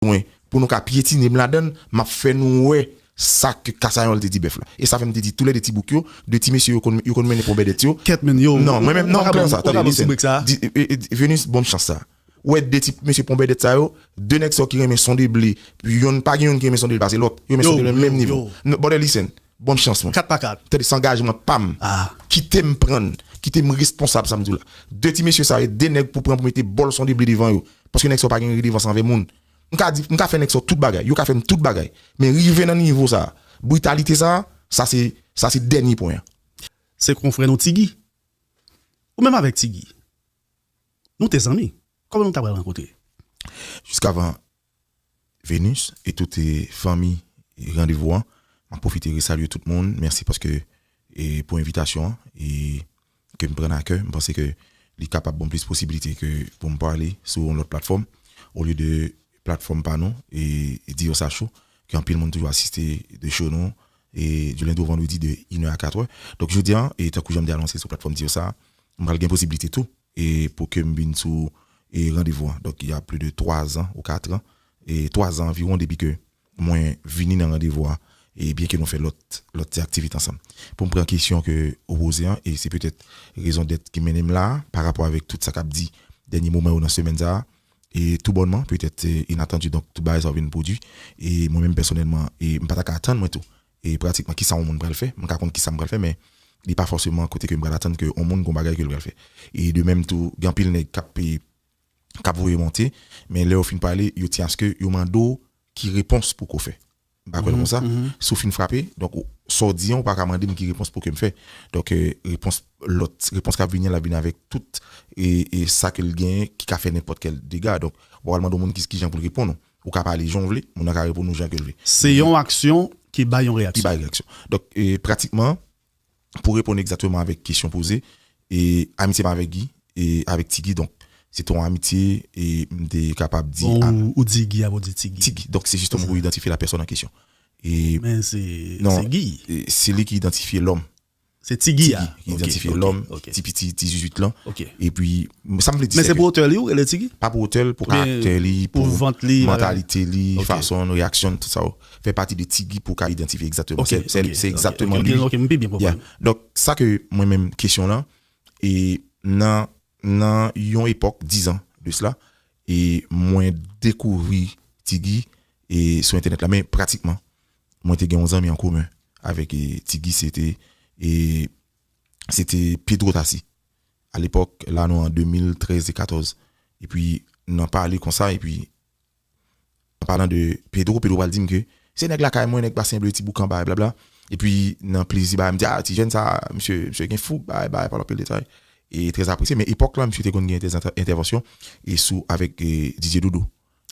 mwen pou nou ka pyetine m ladan l, m ap fè nou wè sa ke Kasayòl te di bèf la. E sa fè m te di toulède ti bouk yo, 2 ti mesye yo konn yo konn mennen pon Bèdèt yo. Kèt menn yo, Non, mwen menm, non, pa pran sa, tande, listen, di, Venus, ban m chans sa. Ou wè 2 ti mesye pon Bèdèt sa yo, 2 nèg sa yo ki renmen sonde ble, yonn, pa gen yonn ki renmen sonde l pase lòt. Yo renmen sonde l nan menm nivo. Bòdè, listen, Bon chans mwen. 4 pa 4. Tande sangajman pam kitem prann kitem responsab sam diw la de ti mesye sa yo de nèg pou pran pou mete bòl son de ble devan yo paske nèg sa yo pa gen redevans anvè moun mka di mka fè nèg sa yo tout bagay yo ka fèm tout bagay men rive nan nivo sa britalite sa sa se sa se dènye pwen an. Se konfrè nou ti Guy. Ou menm avèk ti Guy. Nou te zanmi. Kòman nou ta pral rankontre. Jiskavan Venus e tout fanmi randevou an map pwofite resalye tout moun mèsi paske pou envitasyon an e kem prann a kè m panse ke li kapab banm plis posibilite ke poum pale sou yon lòt platfòm olye de platfòm pa nou e di yo sa cho ke anpil moun toujou asiste de cho nou e du lendi au vendredi de inè a katrè donk jodia tankou janm te anonse sou platfòm di yo sa m pral gen posibilite tou E pou ke m vin sou e randevou an. Donk, y a pli de 3 zan ou 4 an, e 3 zan anviwon depi ke mwen vini nan randevou a, e byen ke nou fè lòt, lòt ti aktivite ansanm. Pou m pran kesyon ke ou poze an, e se petèt rezon dèt ki mennen m la a, pa rapò avèk tout sa k ap di dènye moman yo nan semèn sa a, e tou bònman, petèt se inatandi, donk tout bagay sa yo vin pwodui, e mwen menm pèsonèlman, e m pa ta ka atann mwen tou, E pratikman kisa yon moun pral fè, mwen ka konn kisa m pral fè men li pa fòseman kote ke m pral atann ke yon moun gon bagay ke l pral fè. E de menm tou gen anpil nèg kap kap voye monte men lè yo fin pale yo tyen aske yo mande w ki repons pou ke w fè. M pa kwè l konsa. Si w fin frape donk ou sa w di an ou pa ka mande m ki repons pou ke m fè. Donk repons lòt repons kap vini an lap vini avèk tout e sa ke l genyen ki ka fè nenpòt kèl dega donk ou pa pral mande yon moun kijan pou l reponn ou. Ou ka pale jan w vle, moun nan ka reponn ou jan ke l vle. Se yon aksyon ki bay yon reyaksyon. Ki bay reyaksyon. Donk, pratikman, pou reponn egzatteman avèk kesyon poze, amitye m avèk Gi, avèk Ti Gi, donk, se te yon amitye, m te kapab di. Bon, ou di Gi apre ou di Ti Gi. Ti Gi. Donk, se jisteman pou idantifye lapèsòn an kesyon. Men se Gi. Se li ki idantifye lòm. Se ti Guy a ki idantifye lòm, ti piti ti zuzuit lan. Epi sa m vle di se ke. Men se pou otè li ou rele ti Guy? Pa pou otè li, pou karaktè li, pou mantalite li, fason l reyaksyon l, tout sa yo. Fè pati de ti Guy pou w ka idantifye egzakteman. Se egzakteman li. Ok, m pi byen konprann. Donk sa ke mwen menm kesyon lan, e nan nan yon epòk dizan de sla, e mwen dekouvri ti Guy e sou entènèt la men pratikman. Mwen te gen yon zanmi an komen avèk Ti Guy se te e se te Pedro Tassy a lepòk la nou an 2013 e 14 e pi nan pale konsa e pi an palan de Pedro, Pedro pral di m ke se nèg lakay mwen nèg Basen Ble ti Boukan bay blabla e pi nan plezi bagay m di a ti jèn sa misye misye gen foug bay bay pale anpil detay e trè apresye men epòk la misye te konn gen dezantè entèvansyon e sou avèk Didier Doudou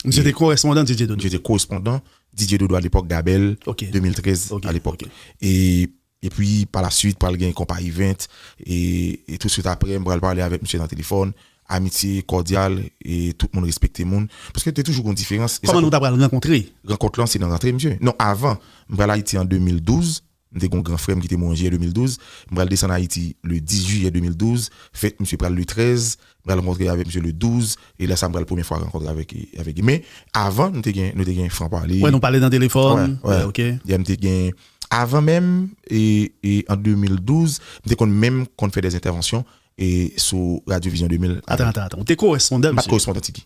Misye te korespondan Didier Dodo. Misye te korespondan Didier Dodo a lepòk Gabèl 2013 a lepòk. E pwi pa la swit pral gen Konpa Event e tou swit apre m pral pale avèk misye nan telefòn. Amitye kòdyal e tout moun respekte moun. Paske te toujou gon diferans. Kòman nou ta pral rankontre? Rankont lan se nan rantre misye. Non avan. M pral Ayiti an 2012. M te gen yon gran frè m ki te mouri an jiyè 2012. M pral desann Ayiti le 10 jiyè 2012. Fèt misye pral le 13. M pral rankontre avèk misye le 12. E lè sa m pral premye fwa rankontre avèk li. Men, avan, nou te gen, nou te gen fran pale. Wè, nou pale nan telefòn. Wè, wè. Ok. Yè m te gen, avan menm, e, e, an 2012, m te konn menm konn fè dè entèvansyon, e, sou Radyo Vizyon 2000 avèk. Atan, atan, atan. Ou te korespondan misye? M pa t korespondan, Tiki.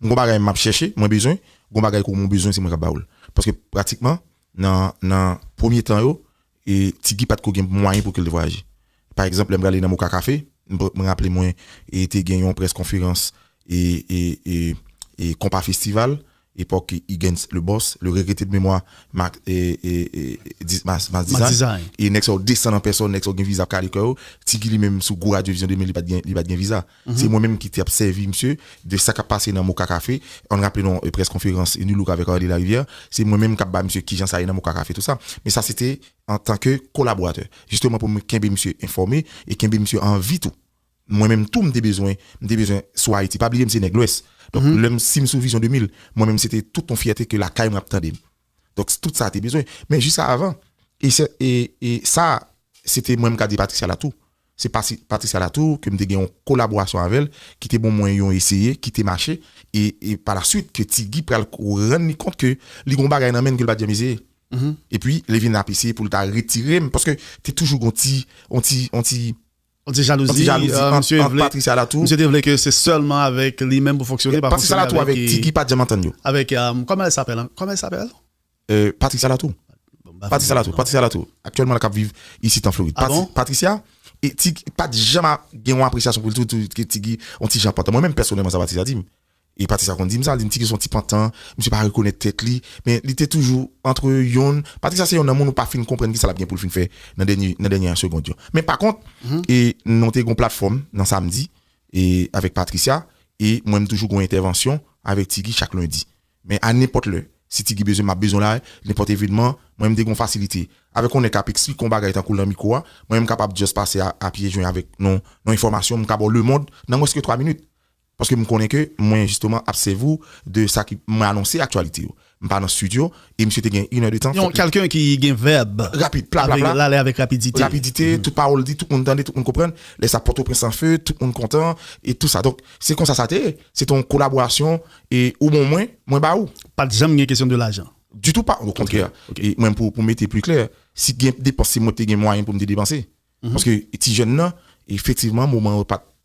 M gon bagay map chèche, mwen bezwen, gon bagay ke w mwen bezwen se mwen kap ba ou l. Paske pratikman nan nan premye tan yo e Ti Guy pat ko gen mwayen pou ke l te vwayaje. Pa egzanp lè m prale nan Moka Café, m m raple mwen e te gen yon près konferans e e e e Konpa Festival, epòk Igentz le Boss, le regrete de memwa Max e e e di Max Max Design. E nèg sa yo desann an pèsòn, nèg sa yo gen viza ap kale kè yo. Ti Guy li menm sou gwo radyo Vizyon 2000 li pat gen li pat gen viza. Se mwen menm ki te ap sèvi misye de sa k ap pase nan Moka Café. An n raple nou yon près konferans U NULOOK avèk Arly Larivière, se mwen menm k ap ba misye kijan sa ye nan Moka Café tou sa. Men sa se te an tan ke kolaboratè. Jisteman pou m kenbe misye enfòme e kenbe misye an vi tou. Mwen menm tou m te bezwen, m te bezwen sou Ayiti. Pa bliye m se nèg Lwès. Donk lè m si m sou Vision 2000, mwen menm se te tout yon fyète ke lakay mwen ap tande m. Donk se tout sa te bezwen. Men jis avan, e sa se te mwen m ka di Patricia Latour. Se Patricia Latour ke m te gen yon kolaborasyon avè l ki te bon mwen yon eseye ki te mache. E pa la swit ke Ti Guy pral rann li kont ke li gen yon bagay nan men l ke l pa t janm eseye. E pi li vin ap eseye pou l ta retire m. Paske te toujou gen yon ti, yon ti, yon ti. Yon ti jalouzi ant Patricia Latou. Misye te vle ke se sèlman avèk li menm pou fonksyone, pa fonksyone avèk. Patricia Latou avèk Tiki pa janm antann yo. Avèk kòman èl sapèl ankò? Kòman èl sapèl? Patricia Latou. Patricia Latou. Patricia Latou. Aktyèlman la kap viv isit an Florid. Ah bon? Patricia e Tiki pat janm gen yon apresyasyon pou li tou. Tiki yon ti jan pantan. Mwen menm pèsonèlman sa Patricia di m. E pati sa konn di m sa, li mtike son ti pantan, misye pa rekonèt tèt li, men li te toujou antre yon, pati sa se yon nan moun ou pa fin konprann kisa lap gen poul fin fè nan dènye nan dènyè segond yo. Men pa kont e nou te gon platfòm nan samdi e avèk Patricia e mwen m toujou gon entèvansyon avèk Ti Guy chak lendi. Men a nenpòt lè si Ti Guy bezwen m ap bezwen la, nenpòt evenman mwen m te gon fasilite avèk yon nèg kap eksplike yon bagay tankou l nan mikwo a, mwen m kapab just pase a pye jwen avèk yon enfòmasyon m ka ba w lemond nan mwens ke 3 minit. Paske m konnen ke mwen jisteman ap sèvi w de sa ki, mwen anonse aktyalite yo. M pa nan studio e misye te gen 1 è de tan. Yon kelken ki gen vèb. Rapid, pla pla pla. L ale avèk rapidite. Rapidite, tout pawòl di, tout moun tande, tout moun konprann. Lè sa Pòtoprens an few, tout moun kontan e tou sa. Donk, se konsa sa te ye. Se te yon kolaborasyon e ou ban mwen, mwen ba ou. Pa t janm gen kesyon de lajan? Ditou pa, o kontrè. E menm pou mete pli klè, si t gen depans se mwen ki te gen mwayen pou m te depanse. Paske ti jèn nan, efektivman moman yo pa t.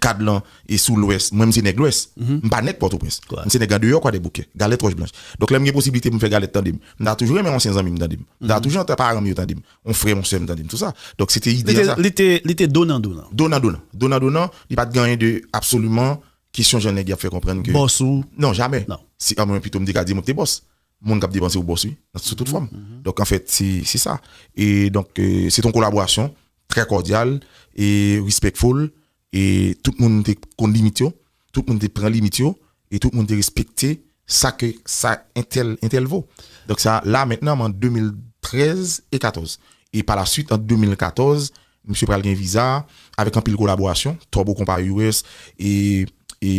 Kad lan e sou lwès. Mwen m se nèg lwès. M pa nèg Pòtoprens. M se nèg andeyò Kwadèboukè. Galèt Wòch Blanch. Donk lè m gen posiblite pou m fè galèt tande m. M ta toujou renmen ansyen zanmi m tande m. M ta toujou antan paran m yo tande m. On frè on sè m tande m. Tou sa. Donk se te ide an sa. Li te li te donan donan. Donan donan. Donan donan. Li pa t gen anyen de absoliman kesyon jan nèg y ap fè konprann ke. Bòs ou. Non jamè. Non. Si anmwen pito m te ka di mwen m te bòs. Moun kap depanse ou boss wi nan sou tout fòm donk anfèt se se sa e donk se ton kolaborasyon trè kòdyal e respectful e tout moun te konn limit yo tout moun te pran limit yo e tout moun te respekte sa ke sa entèl entèl vo donk sa la mentnan m an 2013 e 14 e pa la swit an 2014 misye pral gen viza avèk anpil kolaborasyon Twòbo Konpa US e e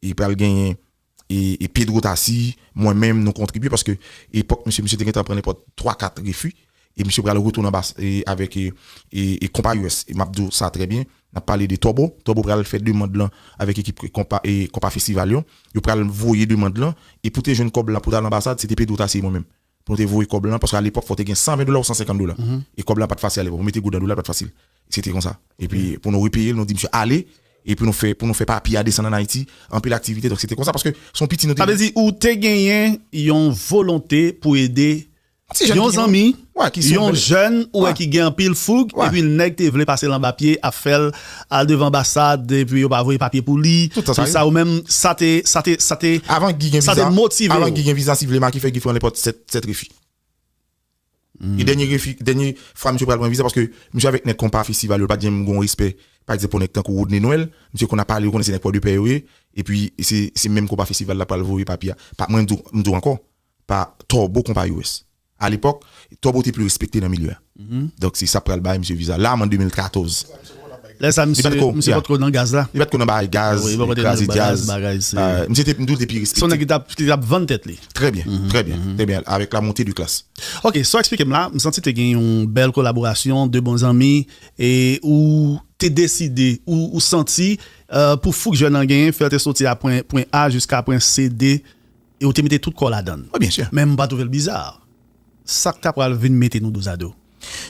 e pral genyen e Pedro ta si mwen menm nou kontribye paske epòk misye misye te gentan pran nenpòt 3 4 refi e misye pral retounen anba avèk e konpa us e map diw sa trè byen nap pale de Tòbo Tòbo pral fè demand lan avèk ekip konpa e konpa festival yo yo pral voye demand lan e pou te jwenn kòb la pou tal anbasad se te Pedro ta si e mwen menm Pou nou te voye kòb lan, paske a lepòk fò w te gen 120 dola ou 150 dola. E kòb la pa t fasil a lepòk. Pou mete goud nan dola pa t fasil. Se te konsa. Epi pou nou repeye l, nou di misye ale. E pou nou fè, pou nou fè papye a desann ann Ayiti, anpil aktivite. Donk se te konsa paske se yon piti nou te. Sa vle di ou te genyen yon volonte pou ede yon zanmi, yon jèn ou wè ki gen anpil foug, epi nèg te vle pase l anba pye ap fè l. Al devan anbasad epi yo pa voye papye pou li. Tout tan sa ye. Sa ou menm sa te sa te sa te Avan Guy gen sa te viza, motive avan w. Guy gen viza si vle Maki fè Guy fran nenpòt 7 7 refi. E dènye refi dènye fwa misye pral pran viza paske misye avèk nèg konpa festival yo l pat janm gon respè pa egzanp pou nèg tankou Rodney Noël misye konn ap pale ou konnen se nèg pò de pè yo ye epi se se menm konpa festival lap pral voye papye a pa mwen m di w m di w ankò pa Turbo konpa US. A lepòk, Turbo te pli respekte nan milye a. Donk se sa pral bay misye viza. La an 2014. Lè sa misye pa t ko nan gaz la. Li pa t ko nan bagay gaz, kraze djaz. Misye te, m di w, te pi respekte. Se yon nèg ki t ap vann tèt li. Trè byen. Trè byen. Trè byen. Avèk la monte de klas. Ok, sa w eksplike m la, m santi te gen yon bèl kolaborasyon, de bon zanmi. E ou te deside, ou santi pou fouk jèn an genyen, fè l te soti a pwen A jiska pwen C, D. e ou te mete tout kòw ladan l. Oui bien sûr. Men m pa trouve l bizar. Sak ta pral vin mete nou dozado.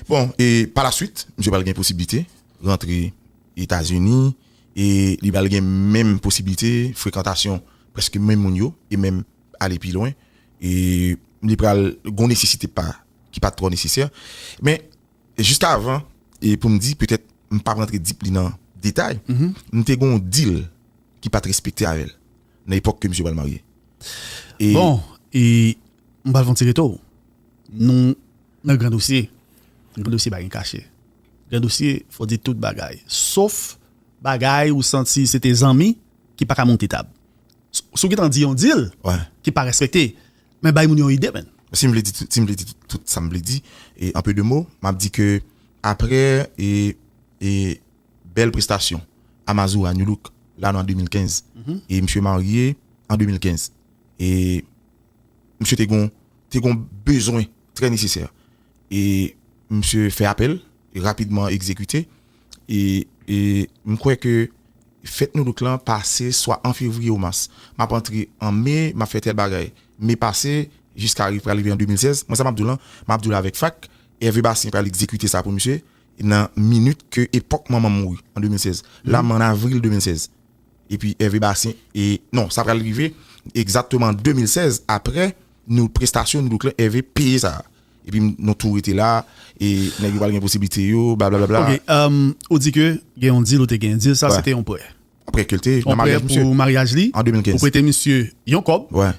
Bon e par la suite misye pral gen posiblite rantre etazini e li pral gen menm posiblite frekantasyon preske menm moun yo e menm ale pi lwen e li pral gon nesesite pa ki pat trò nesesè men jis ka avan e poum di petèt m pap rantre deeply nan detay m te gon deal ki pat respekte avèl. Nan epòk ke misye pral marye. E. Bon, e m pral fè yon ti reto. Nou nan gran dosye. Nan gran dosye pa gen kache. Gran dosye fò di tout bagay. Sof bagay ou santi se te zanmi ki pa ka monte tab. Si w gen tan di yon dil ki pa respekte. Men bay moun yon ide menn. Si m vle di si m vle di tout sa m vle di, e an pe de mo, m ap di ke apre e e. Bèl prestasyon A Mazora Nu Look la nan 2015 E misye marye an 2015 E misye te gon Te gon bezwen trè nesesè E misye fè apèl Rapidman egzekite E E m kwè ke Fèt Nu Look lan pase swa an fevriye ou mas M ap antre an me M ap fè tèl bagay Me pase Jiska rive pral rive an 2016 Mwen sa m ap di w lan M ap di w l avèk fak Ève Bastien pral egzekite sa pou misye nan minit ke epòk manman m mouri an 2016 la m an avril 2016 epi Hervé Bastien e non sa pral rive egzatteman an 2016 aprè nou prestasyon nou douklè Hervé peye sa a epi m nou tou rete la e nèg yo pral gen posiblite yo blablabla Ok emm ou di ke gen yon deal ou te gen deal sa se te yon prè yon prè pou maryaj misye an 2015 ou prete misye yon kòb wè.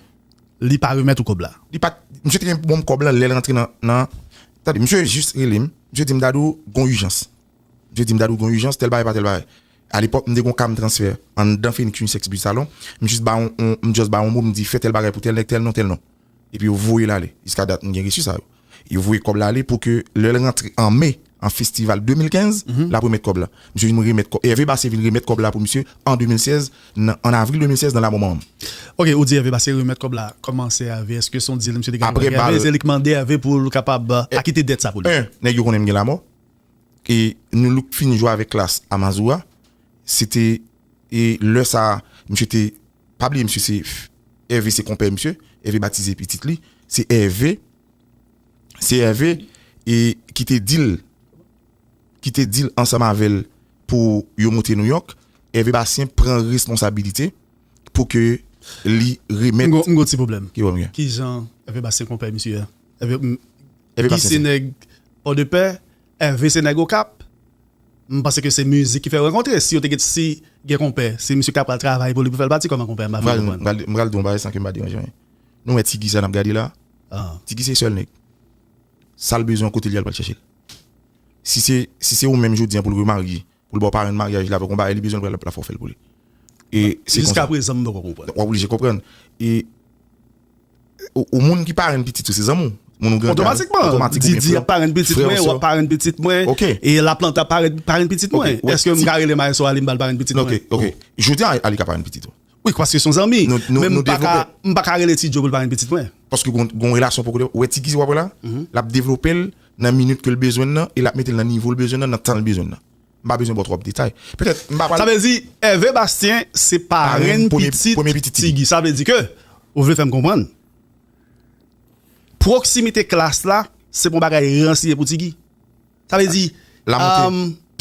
Li pa remèt ou kòb la. Li pat, misye te gen pou banm kòb lan lèl rantre nan, nan, tande misye jis relem, misye dim Dadou gon ijans, misye dim Dadou gon ijans tèl bagay pa tèl bagay, alepòk m te gon kam transfè anndan Phoenix Unisex Beauty Salon, m jis bay on, m just bay on mo m di fè tèl bagay pou tèl nèg tèl non tèl non, epi yo voyel ale, jiska dat m gen resi sa yo. Yo voye kòb la ale pou ke lè l rantre an me, an festival 2015, l ap remèt kòb la. Misye vin remèt kòb, Hervé Bassé vin remèt kòb la pou misye an 2016, nan, an avril 2016 nan Lamò Manman. Ok, ou di Hervé Bassé remèt kòb la, kòman se Hervé, èske se yon deal misye te gen avèk Hervé? Aprè bal. Se li ki mande Hervé pou l kapab akite dèt sa pou li? 1, nèg yo konnen m gen Lamò, e Nu-Look fin jwe avèk Klass a Mazora, se te. E lè sa a, misye te, pa bliye misye se Ève se konpè misye, Ève batize pitit li, se Ève, se Ève e ki te di l, ki te di l ansanm avè l pou yo moute Nouyòk, Ève Bastien pran responsabilite pou ke li remèt. M gon ti pwoblèm. Ki pwoblèm gen? Kijan Ève Bastien konpè misye a? Ève Bastien se. Guy se nèg Pòdepè, Hervé se nèg okap, m panse ke se mizik ki fè yo rankontre, si yo te get si gen konpè, se misye ki ta pral travay pou li pou fè l pati kòman konpè a m pa fin konprann. M pral di yon bagay san ke m pa deranje anyen. Nou wè Ti Guy sa n ap gade la a, Ti Guy se sèl nèg, sa l bezwen yon kote l ye a l pral chèche l. Si se ou menm jodi a pou l remarye pou l ba w parenn maryaj li avè w yon bagay li bezwen l pral la fò w fè l pou li e se konsa jiskaprezan m poko konprann w oblije konprann e ou moun ki parenn pitit ou se zanmi w moun ou gen kay otomatikman didi ap parenn pitit mwen wap parenn pitit mwen e laplanta ap parenn pitit mwen èske m ka rele maestro aly m ba l parenn pitit mwen ok ok jodi a aly ka parenn pitit ou. Wi paske son zanmi. Men m pa ka m pa ka rele ti djo pou l pa renmn pitit mwen. Paske gon relasyon poko devlope. Ou wè ti kizi wap wè la? Lap devlope l nan minit ke l bezwen l nan e lap mete l nan nivo l bezwen l nan nan tan l bezwen l nan. M pa bezwen baw twòp detay. Petèt m pa pral. Sa vle di Hervé Bastien se parenn pitit ti Guy. Sa vle di ke ou vle fèm konprann pwoksimite klas la se pa yon bagay ranse pou ti Guy? Sa vle di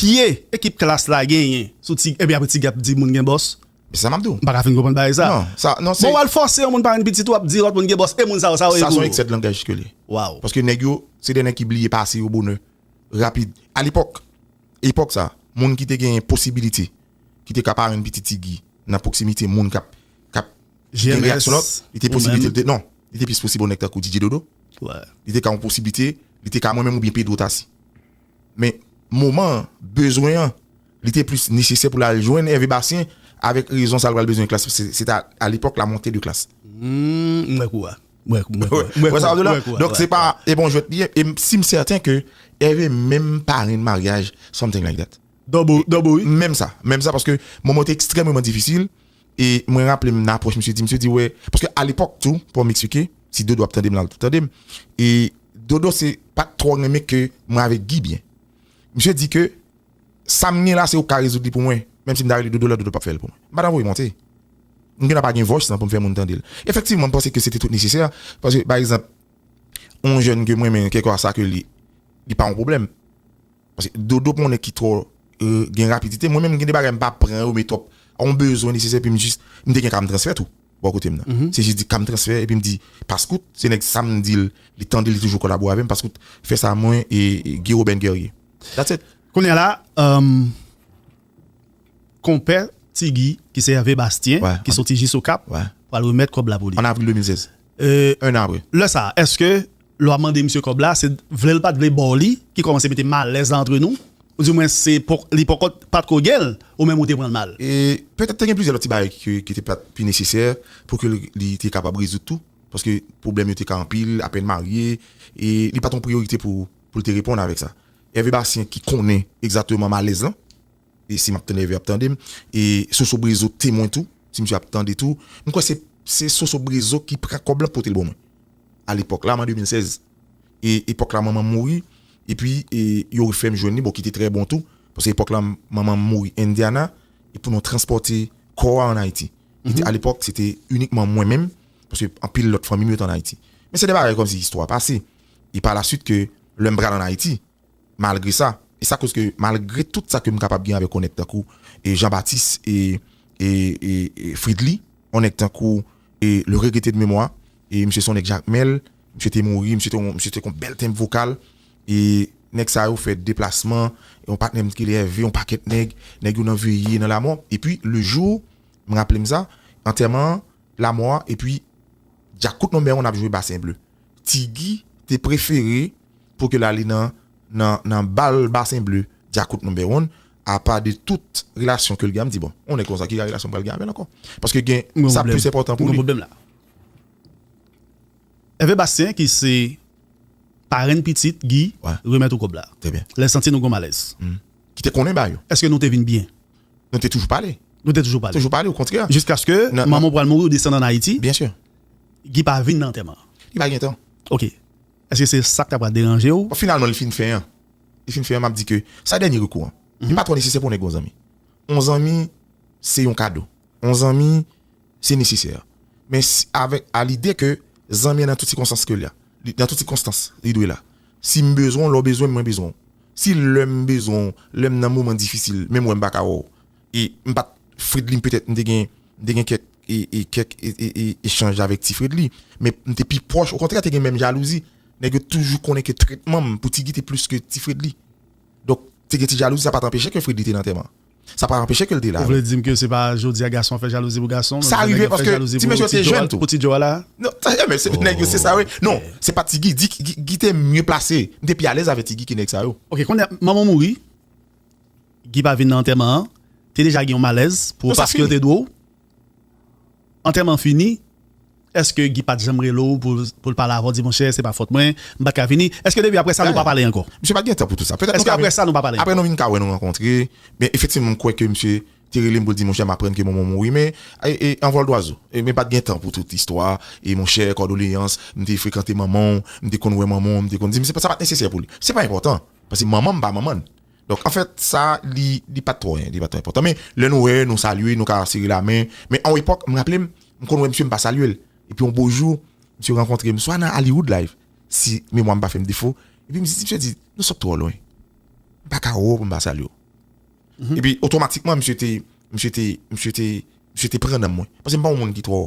pye ekip klass la genyen sou ti epi aprè ti guy ap di moun gen bòs. Se sa map di w. M paka fin konprann bagay sa. Bon wal fòse yon moun pa renmn pitit ou ap di lòt moun gen bòs e moun sa yo sa yo ye pou ou. Sa son eksè de langaj ke li. Waw. Paske nèg yo se de nèg ki bliye pase yo bonè rapid. A lepòk, epòk sa, moun ki te genyen posibilite ki te ka parenn pitit ti guy nan pwoksimite moun kap kap. Gen reyaksyon lòt, li te posiblite l te, non, li te plis posib yon nèg tankou Didye Dodo, li te ka yon posiblite, li te ka mwen menm oubyen Pedro Tassy. Men, moman an, bezwen an, li te plis nesesè pou l al jwenn Hervé Bastien avèk rezon sa l pral bezwen klas, se ta alepòk la monte de klas. M wè kou a. M wè kou a. M wè sa w vle di la? Donk se pa e bon jwèt li ye, e m si m sèten ke Hervé menm parenn maryaj something like that. Dobo, Dobo wi. Menm sa, menm sa paske moman yo te ekstrèmeman difisil, e mwen raple m nan apwòch misye di misye di wè paske alepòk tou paw m eksplike si dodo ap tande m lap tande m e dodo se pat twò renmen ke mwen avèk Guy byen misye di ke sa m gen la se ou k ka rezoud li pou mwen menm si m ta rele dodo lè dodo pap fè l pou mwen m pa ta voye monte m gen dwa pa gen voice lan pou m fè moun tande l efektivman m panse ke se te tout nesesè paske pa egzanp yon jèn ke m renmen kèlkeswa sa ke li li pa yon pwoblèm. Paske dodo pou yon nèg ki twò gen rapidite, mwen menm gen de bagay m pa pran yo men twòp yon bezwen nesesè epi m jis m te gen ka m transfè tou bò kote m nan se jis di ka m transfè epi m di Paskout se nèg sa m di l li tande li toujou kolabo avè m Paskout fè sa mwen e Guy Roben Guerrier that's it. Kounya la konpè Ti Guy ki se Hervé Bastien ki soti jis Okap pral remèt kòb la pou li. An avril 2016. 1 apre. Lè sa a, èske lè w ap mande misye kòb la, se vle l pa t vle ba w li ki kòmanse mete malèz la antre nou? Oudimwen se li poko pa t ko gen l, ou menm ou te pran l mal? Petèt te gen plizyè lòt ti bagay ki te pa t pi nesesè pou ke li te kapab rezoud tou, paske pwoblèm yo te ka anpil, apèn marye, e li pa t yon priyorite pou l te reponn avèk sa. Ève Bastien ki konnen egzakteman malèz lan. E si map tande ève ap tandem. E soso brezo temwen tou si misye ap tande tou. M kwè se se soso brezo ki pran kòb lan potel bon mwen. A lepòk la m an 2016. E epòk la manmanm mouri. Epi e yo refèm jwenn li bon ki te trè bon tou. Paske epòk la manmanm mouri Indiana. E pou nou transpòte kò a an Ayiti. Ki te a lepòk se te inikman mwen menm. Paske anpil lòt fanmim yo te an Ayiti. Men se de bagay kòmsi istwa pase. E pa la swit ke lèm pral an Ayiti. Malgre sa, e sa koz ke malgre tout sa kem kapab gen avèk yon nèg tankou Jean Baptiste e e e Fridly, yon nèg tankou e le regretté de mémoire, e misye se yon nèg Jakmèl, misye te mouri, misye te yon misye te kon bèl tenb vokal, e nèg sa yo fè deplasman, yon patnèm t rele Hervé, yon pakèt nèg, nèg yo nan veye, nan lamò, epi le jour, m raplem sa, antèman an, lamò a, epi djakout non mèron ap jwe Bassin Bleu. Ti Guy te prefere pou ke l ale nan nan bal Basen Ble, Dyakout No. 1, apa de tout relasyon ke l gen, m di bon, yon nèg konsa ki ka relasyon m pral gen avè l ankò? Paske gen sa plis enpòtan pou li. Ève Bastien ki se parenn pitit Guy remèt ou kòb la. Trè byen. Lè l santi nou gen yon malèz. Ki te konnen bayo. Èske nou te vin byen? Nou te toujou pale. Nou te toujou pale. Toujou pale, okontrè. Jiskaske manman w pral mouri ou desann ann Ayiti. Byen si. Guy pa vin nan antèman an. Li pa gen tan. Ok. Eske se sak ta pral deranje w? Bon finalman li fin fè an. Li fin fè an map di ke sa dènye rekou an. Li pa twò nesesè pou w nèk gon zanmi. On zanmi se yon kado. On zanmi se nesesè. Men si avèk a lide ke zanmi an nan tout sikonstans ke la. Nan tout sikonstans li dwe la. Si m bezwen w, lè w bezwen m mwen bezwen w. Si lè m bezwen w, lè m nan moman difisil menm wè m pa ka wè w. e m pat Fredly petèt m te gen m te gen kèk e kèk e echanj avèk ti Fredly men m te pi pwòch okontrè te gen menm jalouzi nèg yo toujou konnen ke tretman m pou Ti Guy te plis ke ti Fredly donk te gen ti jalouzi sa pat anpeche ke Fredly te nan antèman an sa pat anpeche ke l te la ou vle di m ke se pa jodi a gason ap fè jalouzi pou gason menm jan nèg yo ap fè jalouzi pou ti mesye yo te jèn tou pou ti djo a la non tanpri men se nèg yo se sa yo ye non se pa Ti Guy Guy te mye plase m te pi alèz avèk Ti Guy ke nèg sa yo ok konnya manman w mouri. Guy pa vin nan antèman an te deja gen yon malèz pou ou paske yo te di w antèman an fini èske Guy pat janm rele w pou l pale avè w di monchè se pa fòt mwen m pat ka vini èske depi aprè sa nou pa pale ankò Misye pat gen tan pou tout sa èske aprè sa nou pa pale ankò aprè nou vin ka wè nou rankontre men efektivman m kwè ke misye te rele m pou l di monchè m aprann ke manman w mouri men an vòl dwazo men pat gen tan pou tout istwa e monchè kòdoleyans m te frekante manman w m te konn wè manman w m te konn di men sa pat nesesè pou li se pa enpòtan. Paske manman m pa manman l. Donk anfèt sa li li pa t twò li pa t twò enpòtan. Men lè nou wè, nou salye, nou ka sere lamen. Men a yon epòk, m raple m, m konn wè msye m pa salye l. Epi yon beau jour, msye rankontre m swa nan Hollywood la, si memwa m pa fè m defo. Epi m di, msye di, nou sot twò lwen. M pa ka wè w pou m pa salye w. Epi otomatikman msye te, msye te, msye te, msye te pran nan mwen. Paske m pa yon moun ki twò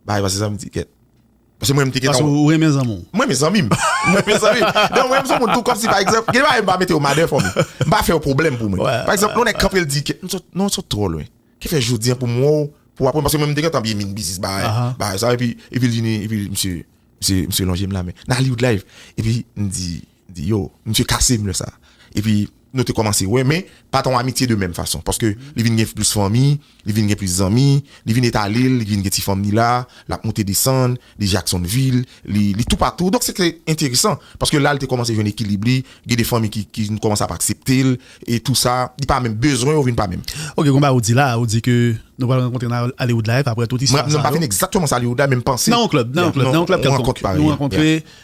bay, paske sa m di kèt. Paske mwen menm te gen tan. Paske ou renmen zanmi w. Mwen renmen zanmi m. Mwen renmen zanmi m. Donk mwen renmen sou moun tou kòm si pa egzanp, gen de bagay m pa mete yo madè fò m. M pa fè yo pwoblèm pou mwen. Pa egzanp, lè yon nèg kanpe l di ke, non ou sot twò lwen. Ki fè jodi an pou m wè w, pou aprann, paske mwen m te gen tan byen min biznis bagay, bagay sa. Epi, epi l vini, epi misye, misye lonje m lamen. Nan Hollywood Live. Epi m di, di yo misye kasem lè sa epi nou te kòmanse wè men pa ta yon amitye de menm fason paske li vin gen plis fanmi li vin gen plis zanmi li vin etalel li vin gen ti fanm li la lap moute desann li jaksonvil li toupatou donk se te enteresan paske la li te kòmanse jwenn ekilib li gen de fanmi ki vin kòmanse ap akseptel e tou sa li pa menm bezwen yo vin pa menm. Ok konba ou di la ou di ke nou pral rankontre nan Hollywood life aprè tout istwa sa yo. Mwen pa konnen egzakteman sa Hollywood la men m panse. Nan yon club nan yon club nan yon club kèlkonk nou rankontre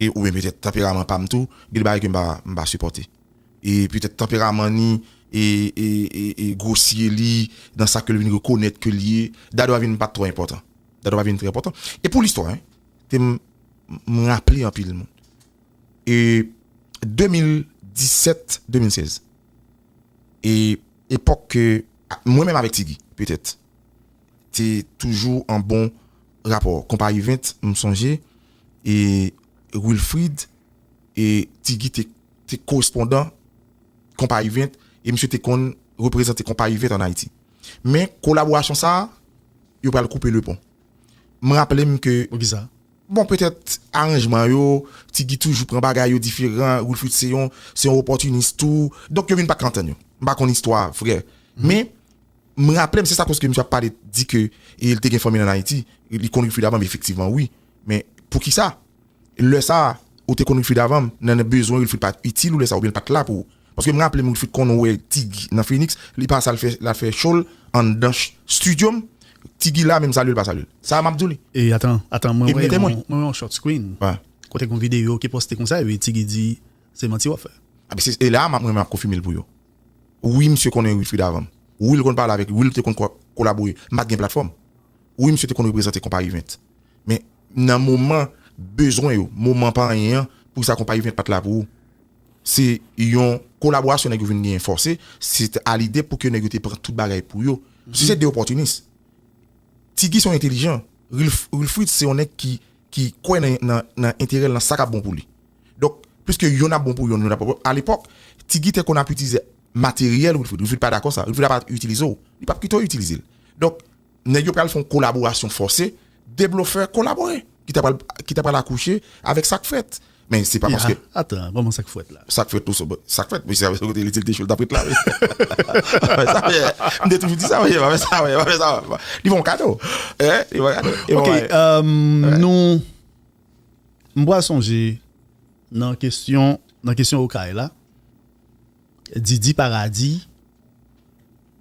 E ou byen petèt tanperaman pam tou, gen de bagay ke m pa sipòte. E petèt tanperaman ni e gwosye li nan sa ke l vin rekonèt ke l ye, Dadou a vin pa t twò enpòtan. Dadou pa vin trè enpòtan. E pou listwa hein, te m raple anpil moun. E 2017, 2016, e epòk ke mwen menm avèk Ti Guy petèt te toujou an bon rapò. Konpayi 20, m sonje. e Wilfrid e Ti Guy te korespondan Konpayi 20 e misye te konn reprezante Konpayi 20 an Ayiti. Men kolaborasyon sa a, yo pral koupe le pon. M raple m ke. Poukisa? Bon, petèt aranjman yo, Ti Guy toujou pran bagay yo diferan, Wilfrid se yon opòtinis tou. Donk yo vin pa ka antann yo. M pa konn istwa vrè. Men, M raplem se sa koske misye ap pale di ke li te gen fanmi l an Ayiti, li konn Rifrid avanm efektivman wi, men poukisa lè sa ou te konn Rifrid avanm nan bezwen Rifrid pat itil ou lè sa oubyen li pat la pou ou? Paske m raplem Rifrid konn wè Tig nan Fenix, li pa sa lal fè show l anndan studio m, Tig la menm salye l pa salye l. Sa map di w li. E atan, atan mwen wè yon, mwen wè yon short screen kote gen yon video ki poste konsa e Tig di se manti wap fè. Ebyen se la mwen menm ap konfime l pou yo. Wi misye konnen Wilfrid avan m. Wi l konn pale avèk li. Wi l te konn kolabore. M pa t gen platfòm. Wi misye te konn reprezante Konpayi 20. Men, nan moman bezwen yo, moman pa anyen an, pou ki sa Konpayi 20 pa t la pou ou? Se yon kolaborasyon nèg yo vin genyen fòse, se te a lide pou ke nèg yo te pran tout bagay pou yo. Se te de opòtinis. Ti Guy se yon entelijan. Wilfrid se yon nèg ki ki kwè nan enterè l nan sa k ap bon pou li donk piske yonn ap bon pou yonn yonn ap bon pou lòt alepòk ti Gitè konn ap itilize materyèl Wilfrid Wilfrid pa dakò sa Wilfrid ap ap itilize w li p ap kite w itilize l donk nèg yo pral fè yon kolaborasyon fòse 2 blofè kolabore ki ta pral ki ta pral akouche avèk sa k fèt Men se pa paske. Yaa atan kòman sak fwèt la. Sak fwèt tou sòbòt. Sak fwèt wi se avèk kote li di li te chou li tap ret la wi. Pa fè sa wi. M te toujou di sa wi pa fè sa wi pa fè sa wi. Li fè yon kado. Li fè yon kado. Ok nou m pral sonje nan kesyon nan kesyon okay la Didi paradis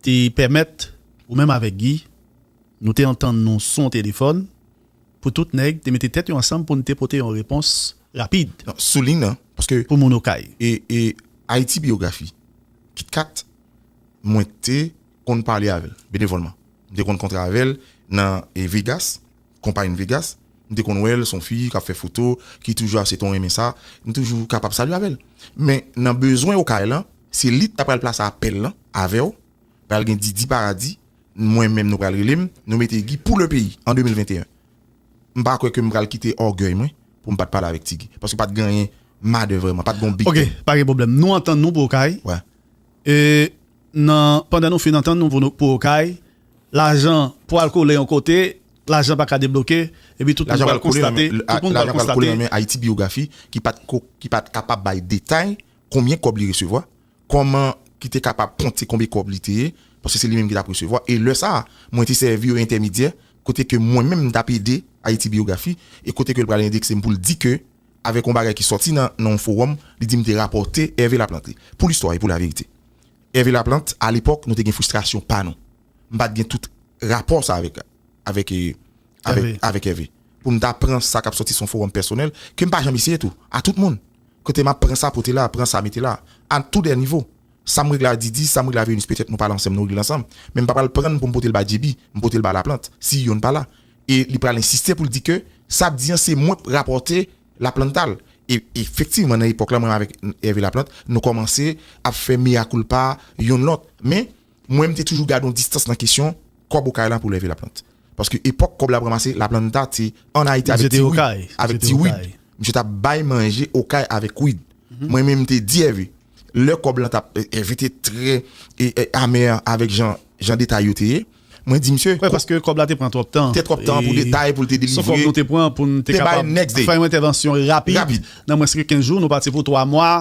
te pèmèt ou menm avèk Guy nou te antann nou sou yon telefòn. Pou tout nèg te mete tèt yo ansanm pou n te pote yon repons rapid. Nan souli nan, paske. Pou moun Okay. E, e Ayiti Biyografi, KitKat, mwen te konn pale avè l, benevòlman. M te konn kontre avè l nan Vegas, konpay N Vegas. M te konn wè l, s on fi k ap fè foto, ki toujou ap se ton renmen sa. M toujou kapab salye avè l. Men, nan bezwen Okay lan, se li k ta pral plase apèl lan avè w. Pral gen Didi Paradis, Mwen menm nou pral rele m Nou mete Guy pou le peyi an 2021 M pa kwè ke m pral kite ògèy mwen pou m pat pale avèk ti Guy paske pat genyen madè vrèman pat gon big dèm. Ok pa gen pwoblèm nou antann nou pou okay e nan pandan nou fin antann nou pou okay lajan pwal kole yon kote lajan pa ka debloke epi tout moun pral konstate tout moun pral konstate lajan pral kole nan men Haiti Biographie ki pat kapab bay detay konbyen kòb li resevwa Kòman ki te kapab konte konbe kòb li te ye, paske se li menm ki t ap resevwa, e lè sa a, mwen te sèvi yo entèmedyè, kote ke mwen menm m t ap ede Ayiti Biyografi, e kote ke l pral endekse m pou l di ke, avèk yon bagay ki sòti nan yon fowòm, li di m te rapòte Ève Laplante. Pou listwa e pou laverite, Ève Laplante, alepòk, nou te gen fristrasyon pa nou. M pa t gen tout rapò sa avèk, avèk, avèk, avèk Ève, pou m ta pran sa k ap sòti sou yon fowòm pèsonèl, ke m pa janm eseye tou, a tout moun. Kote map pran sa pote la, pran sa mete la. A tou dè nivo. Sam regle a Didi, sam regle a Vénus petèt nou pale ansenm nou regle ansanm, men m pa pral prann pou m pote l ba JB, m pote l ba Laplant, si yonn pa la. E li pral ensiste pou l di ke sap di an se mwen k rapòte Laplanta l. E efektivman nan epòk la mwen avèk Hervé Laplante nou kòmanse ap fè mea culpa yonn lòt. Men. Mwen m te toujou gade yon distans nan kesyon kòb okay la pou lève laplant. Paske epòk kòb la ap ranmase laplanta te an Ayiti avèk ti Wid. Avèk ti Wid. Misye t ap bay manje okay avèk Wid. Mwen menm m te di Ève, lè kòb lan t ap, Ève te trè amè avèk jan jan detay yo te ye. Mwen di misye. Wè paske kòb la te pran twòp tan. Te twòp tan pou detay pou l te delivre. Son kòb nou te pran pou n te kapab fè yon entèvansyon rapid. Nan mwens ke 15 jou nou pati pou 3 mwa.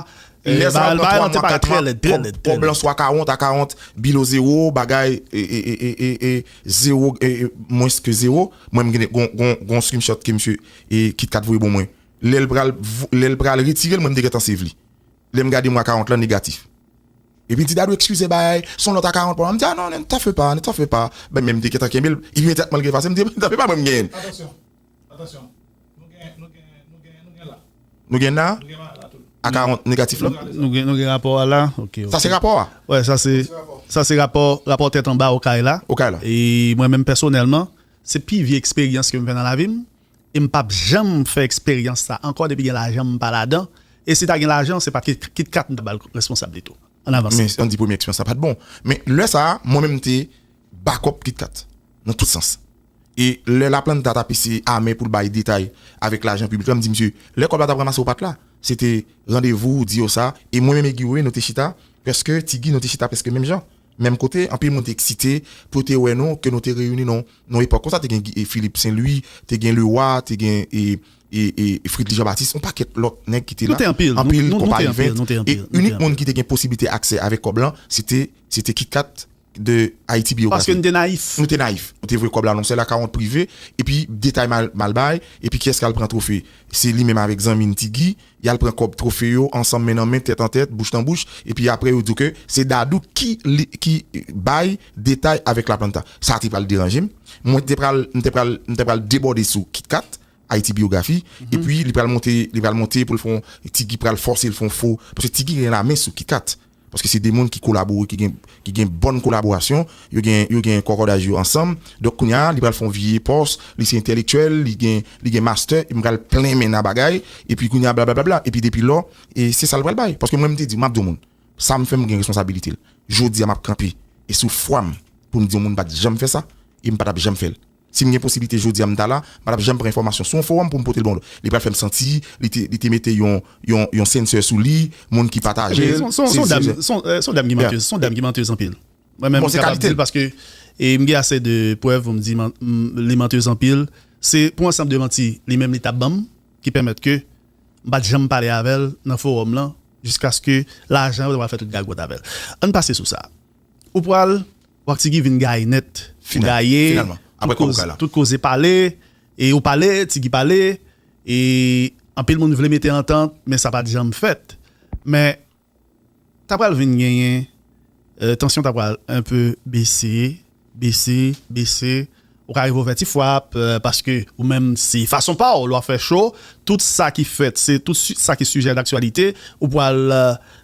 Lè sa w pran 3 mwa 4 mwa kòb lan swa ka wont a ka wont bilo zewo bagay ee zewo mwens ke zewo mwen m gen yon screenshot ke msye KitKat voye bon mwen lè l pral lè l pral retire l mwen m te gentan save li lè m gade mwa ka wont lan negatif epi l di Dadou ekskize bay son lòt a ka wont pou mwen m di a non ne t'en fais pas ne t'en fais pas men m te gentan kenbe l imedyatman l efase m di ne t'en fais pas mwen m genyen l. Nou gen na ak a negatif la. Nou gen rapò a la. Sa se rapò a? Wè, sa se, sa se rapò, rapò tèt anba okay la. Okay la. E mwen menm pèsonèlman, se pi vye eksperyans ke m fè nan lavi m. E m pap janm fè eksperyans sa ankò depi gen lajan m pa ladan. E si ta gen lajan, se pa KitKat m ta ba l responsab li tou. An avans. Men an di premye eksperyans la pat bon. Men lè sa a, mwen menm m te bakòp KitKat nan tout sans. E lè Laplanta t ap eseye ame pou l bay detay avèk lajan piblik la, m di misye, lè kòb la t ap ranmase ou pa t la. Se te randevou ou di yo sa. E mwen menm e Guy Wewe nou te chita prèske, Ti Guy nou te chita prèske menm jan, menm kote. Anpil moun te eksite pou yo te wè nou, ke nou te reyini nan yon epòk konsa. Te gen Philippe Saint Louis, te gen Leroy, te gen Fridley Jean Baptiste, yon pakèt lòt nèg ki te la. Anpil konpayi vent. E inik moun ki te gen posiblite aksè avèk kòb lan, se te Kit Kat. de Haïti Biographie. Paske nou te nayif. Nou te nayif. Nou te vwe kòb la nan sèl akawont prive, epi detay mal mal bay, epi kiyès k'al pran twofe? Se li menm avèk zanmi n' Ti Gi, y'al pran kòb twofe yo ansanm men nan men, tèt an tèt, bouch nan bouch, epi aprè yo di w ke se Dadou ki li ki bay detay avèk La Planta. Sa te pral deranje m'. Mwen te pral, m' te pral, m' te pral debòde sou Kit Kat, Haïti Biographie, epi li pral monte, li pral monte pou l' fon, Ti Gi pral fòse l' fon fo, paske Ti Gi gen la men sou Kit Kat. Paske se 2 moun ki kolabore, ki gen ki gen bòn kolaborasyon, yo gen yo gen kòkòdaj yo ansanm. Donk kounya li pral fè yon vye pòs, li se entèlektyèl, li gen li gen mastè, epi m pral plen men nan bagay, epi kounya blablablabla, epi depi lò, e se sa l pral bay. Paske mwen m te di, m ap di yon moun, sa m fè m gen responsabilite l. Jodi a m ap kanpe, e sou fwa m pou m di yon moun pa t janm fè sa, e m pa t ap janm fè l. Si m gen posiblite jodi a m ta la, m pa t ap janm pran enfòmasyon sou yon fowòm pou m pote l ban w. Li pral fè m santi li te li te mete yon yon yon sensè sou li, moun ki pataje l. Son son dam son son dam ki mantez son dam ki mantez anpil. Mwen menm m kapab di l paske e m gen ase de prèv pou m di li mantez anpil. Se pou ansanm de manti li menm li t ap ban m ki pèmèt ke m pa t janm pale avè l nan fowòm lan jiskaske lajan yo te pral fè tout gagòt avè l. An n pase sou sa. Ou pral. Wap Tigui vin gaye nèt ou gaye tout koze pale e ou pale Tigui pale e anpil moun vle mete antant men sa pat janm fèt men ta pral vin genyen tansyon ta pral enpe bese bese bese Ou ka rive ou fè ti fwap paske ou menm se fason pa w lè w ap fè show, tout sa ki fèt se tout sa ki sijè daktyalite ou pral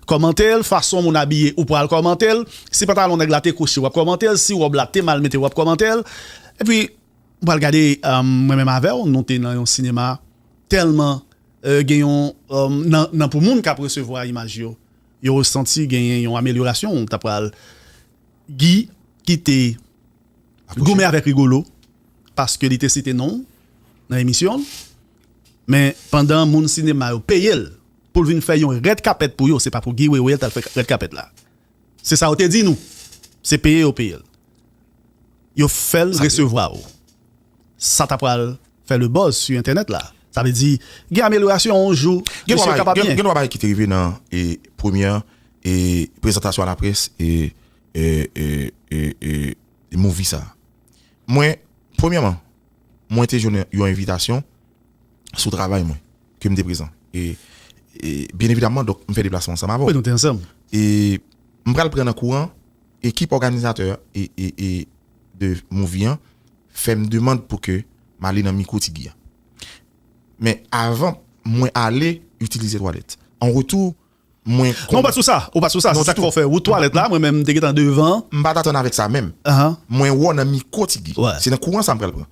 kòmante l, fason moun abiye ou pral kòmante l, si pantalon nèg la te kwochi w ap kòmante l, si wòb la te mal mete w ap kòmante l epi m pral gade mwen menm avè w nou te nan yon sinema tèlman gen yon nan pou moun k ap resevwa imaj yo yo santi genyen yon amelyorasyon ta pral Guy ki te goumen avèk Rigolo paske li te site non w nan emisyon l men pandan moun sinema yo peye l pou l vin fè yon rèd kapèt pou yo se pa pou Guy Wewe l t al fè rèd kapèt la se sa yo te di nou se peye yo peye l yo fè l resevwa w sa ta pral fè le buzz su entènèt la sa vle di gen amelyorasyon yon jou mesye kapab gen gen 3 bagay ki te rive nan premyè prezantasyon a laprès movie sa. Mwen premyèman mwen te jwenn yon envitasyon sou travay mwen ke m te prezan e byen evidamman donk m fè deplasman ansanm avè w. Wi nou te ansanm. E m pral pran nan kouran ekip òganizatè de movie an fè m demand pou ke m ale nan mikwo Ti Guy an. Men avan mwen ale itilize twalèt. An retou mwen konn. Non ou pa sou sa, ou pa sou sa, se sak fè w fè wout twalèt la, mwen menm m te gentan devan. M pat atann avèk sa menm. Mwen wè w nan mikwo ti Guy. Se nan kouran sa m pral pran.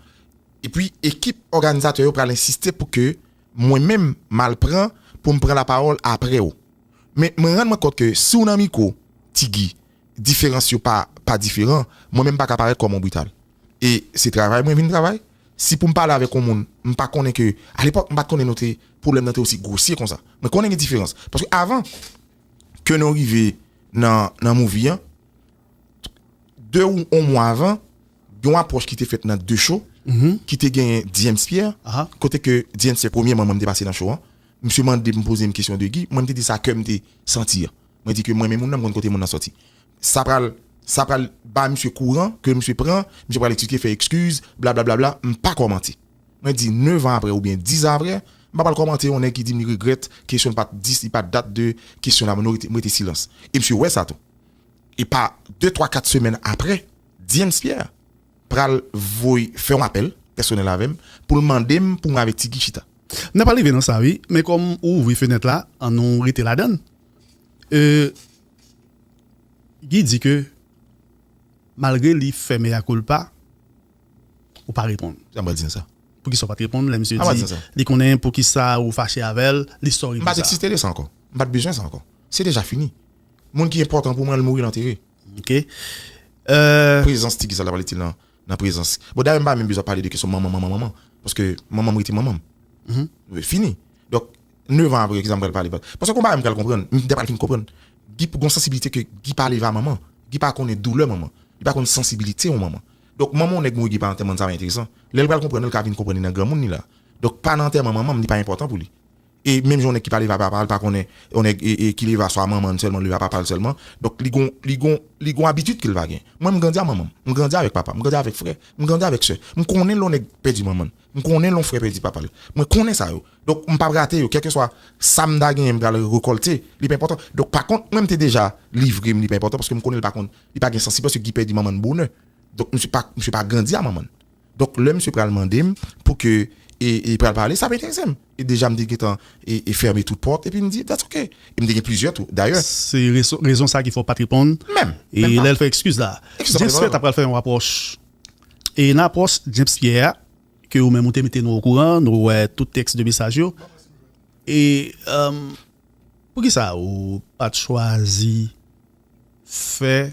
Epi ekip òganizatè yo pral ensiste pou ke mwen menm m al pran pou m pran lapawòl aprè w. Men mwen rann mwen kont ke si w nan mikwo ti Guy, diferans yo pa diferan, mwen menm m paka parèt kòm yon brital. e se travay mwen vin travay si poum pale avèk yon moun m pa konnen ke a lepòk m pat konnen nou te pwoblèm nan te osi gwosye konsa mwen konnen gen diferans paske avan ke nou rive nan nan movie an de ou yon mwa avan yon apwòch ki te fèt nan de cho ki te genyen James Pierre kote ke James se premye man mwen te pase nan cho an misye mande m poze m kesyon de Guy mwen m te di sa kèm te santi an mwen di ke mwen menm moun nan m konn kote moun nan sòti. Sa pral sa pral ba misye kouran ke misye pran, misye pral eksplike fè ekskiz, blablablabla, m pa kòmante. Mwen di 9 an aprè oubyen 10 an aprè, m pa pral kòmante yon nèg ki di m li regrèt kesyon l pa t di li pa t dat de kesyon la mwen rete silans. E misye wè sa tou. E pa 2 3 4 semèn aprè, Dyens Pierre pral voye fè yon apèl pèsonèl avè m pou l mande m pou mwen avèk Ti Guy chita. N ap rive nan sa wi, men kòm ou ouvri fenèt la, an nou rete ladann. E. Guy di ke malgre li fè mea culpa ou pa reponn. Sa mwen di sa. Poukisa ou pat reponn lè misye di li konnen poukisa ou fache avèl li sorry pou sa. M pat eksiste de sa ankò. M pat bezwen sa ankò. Se deja fini. Moun ki enpòtan pou mwen al mouri lantere. Ok. Prezans ti Guy sa ta pral itil nan nan prezans bon dayè m pa menm bezwen pale de kesyon manman manman manman paske manman m rete manman m fini donk nevan apre kisa m pral pale paske gon bagay m pral konprann m ta pral fin konprann Guy gon sansiblite ke Guy pa leve a manman Guy pa konnen doulè manman li pa konn sansibilite yon manman donk manman yon nèg mouri Guy pa nan antèman sa pa enteresan lè l pral konprann l ka vin konprann li nan granmoun li la donk pa nan antèman manman m li pa enpòtan pou li. E menm jan yon nèg ki pa leve a papa l pa konnen yon nèg ki leve a swa manman l sèlman leve a papa l sèlman. Donk li gon li gon li gon abitid ke l va gen. Mwen m grandi a manman m. M grandi avèk papa m. M grandi avèk frè. M grandi avèk sè. M konnen lè yon nèg pèdi manman l. M konnen lè yon frè pèdi papa l. Mwen konnen sa yo. Donk m p ap rate yo. Kèlkeswa sa m ta genyen m pral rekòlte. Li pa enpòtan. Donk pa kont mwen m te deja livre m li pa enpòtan paske m konnen l pa konn li pa gen sansib paske Guy pèdi manman l bonè. Donk misye pa misye pa grandi a manman l. Donk lè misye pral mande m pou ke e e pral pale sa ap enterese m. E deja m te gentan e e fèmen tout pòt epi m di that's ok. E m te gen plizyè tou dayè. Se reson rezon sa ki fè w pat reponn. Menm! E Menm pa! lè l fè ekskiz la. Ekskiz James Pierre ta pral fè yon apwòch. E nan apwòch James Pierre a ke ou menm ou te mete nou okouran, nou wè tout tèks de mesaj yo. E emm poukisa ou pat chwazi fè.